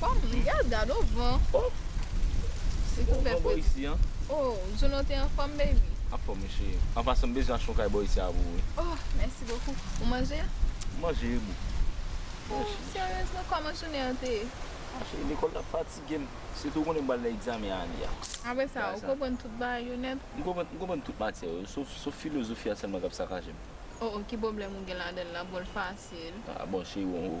Fanm riyal gadon van. Oh Se pou fè fredi. Oh Jono te anfòm baby. Anfòm wi cheri. An pasan m bezwen achte yon kay bò isi a pou ou wi. Oh mèsi bokou. Ou manje? M manje wi boo. Oh seryezman kòman jounen an te ye? Ah cheri lekòl la fatige m. Sitou ou konnen m pral nan egzamen ane a. Apre sa ou konprann tout bagay yo nèt? M konprann m konprann tout matyè yo sof filozofi a sèlman k ap sakaje m. Oh oh ki pwoblèm ou gen ladan l la? Bon l fasil. Ah bon cheri bon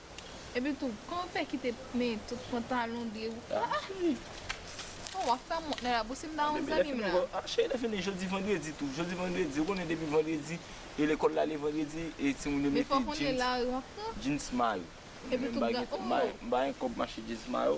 Epi tou, kòman w fè kite pnen tout pantalon de ou la? Ah cheri! Bon, w ap fè mont nan labou si m ta wont zanmi m la. Ah cheri, lè fini jodi vandredi tou. Jodi vandredi, ou konnen depi vandredi, e lekòl la ale vandredi, e timoun yo mete jeans. Men fò w konnen lari w ap pran. Jeans mayo. Epi tou, m pa gen kòb. M pa gen kòb m achte jeans mayo.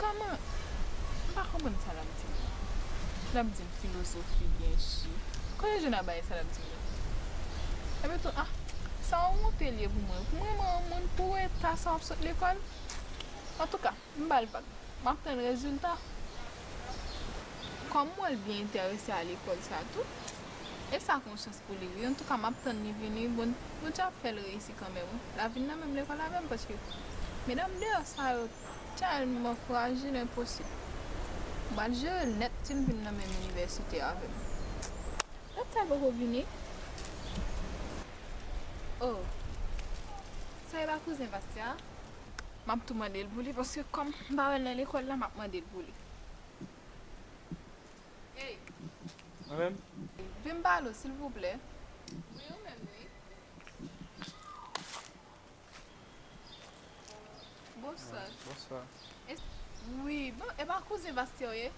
Kòman m pa konprann sa lap di la. Lap di m filozofi byen chi. Kote Juna bay sa lap di yo. Epi tou ah sa yon wonte l ye pou mwen. Pou mwen m yon moun pou eta sa wap sot lekòl. Antouka. M bal bak map tann rezilta. Kòm mwen byen entèrese a lekòl sa tou e sa ak yon chans pou li wi antouka map tann li vini bon Bondye ap fèl reyisi kanmenm wi la vin nan menm lekòl avèm paske medam deyò sa yo tèlman frajil enposib m pral jerel nèt sil vin nan menm inivèsite avèm dat sa poko vini oh sa e pa kouzen Bastya. map tou mandel pou li paske kòm m pa wèl nan lekòl la map mandel pou li Hey Mwen menm Vin balo silvouplè Wi ou menm wi Bonswa Bonswa Wi bon epa kouzen Vastya ou ye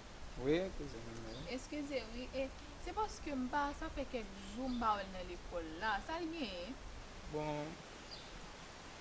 Wi kouzen mwen menm wi Eskize wi e se paske m pa sa fè kèk jou m pa wèl nan lekòl la sal genyen Bon.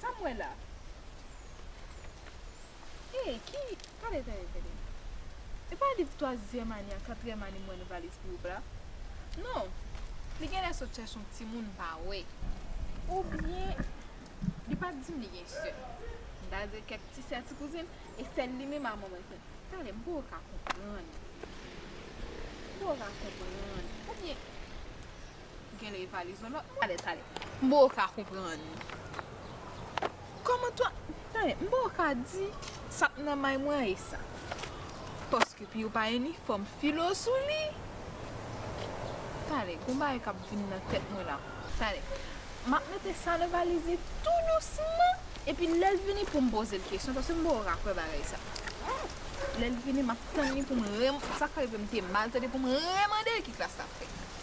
Sa m wè la Hey ki Tande tande tande E pa liv twazyèm ane ak katriyèm ane m wè nan valiz pou ou la Non Li genlè sot chache yon timoun m pa wè Oubyen Li pa t di m li gen sè M ta di l kèk ti sè ti kouzin E sè l li menm a manman l fè l Tande m poko ka konprann M poko ka konprann Oubyen Genlè e pale zo lòt mwen. Tale m boo ka konprann Koman ton Tale m boo ka di Sak nan may mwen e sa Paske piu pa inifòm filo sou li Tale gon bagay kap vin nan tèt mwen la Tale Map mete sa nan valiz li tou dousman Epi lèl vini poum pozel kesyon Paske m boo ka kwè bagay sa Lèl vini map tann li poum Sak fè li vle m te mal tande poum remandel ki klas lap fè.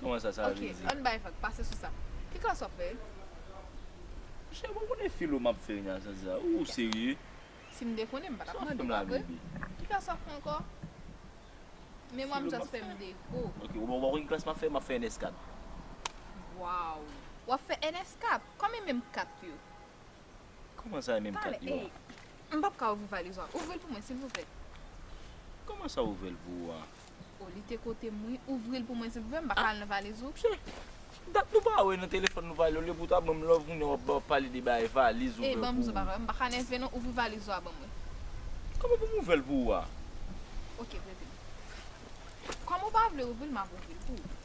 Kòman sa, sa vle di? Ok, ann bay vag, pase sou sa. Ki klas wap fè? Cheri mwen konnen filo map fè nan sans sa. Ou serye? Si m te konnen m pa tap mande, pa vre? Ki klas wap fè ankò? Memwa m just fè m defo. Ok, ou pa konn ki klas map fè? Map fè ns 4. Waww! Wap fè ns 4? Kòman menm 4 yo? Kòman sa e menm 4 yo a? Talè, ey! M pap ka ouvri valiz ou a. Ouvri l pou mwen silvouplè. Kòman sa ouvri l pou ou a? Oh li te kotem wi. Ouvril pou mwen silvouplè m pa ka al nan valiz ou. Psee dat nou pa wè nan telefòn nou pale olye pou ta banm love kounye wap banm pale de bagay valiz ouvè pou ou. M pa ka nève non ouvri valiz ou a banm wè. Kòman pou m ouvè l pou ou a. Ok pretem. Kòm ou pa vle ouvri l map ouvri l pou ou.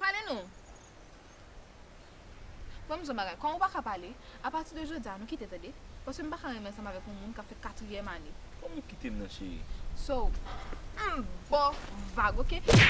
Pale nou! Mwen m di w yon bagay, kòm ou pa ka pale, apati de jodi a nou kite tande, paske m pa ka renmen ansanm avèk yon moun k ap fè katriyèm ane. Kòm ou kite m nan cheri? So, m ba w vag ok!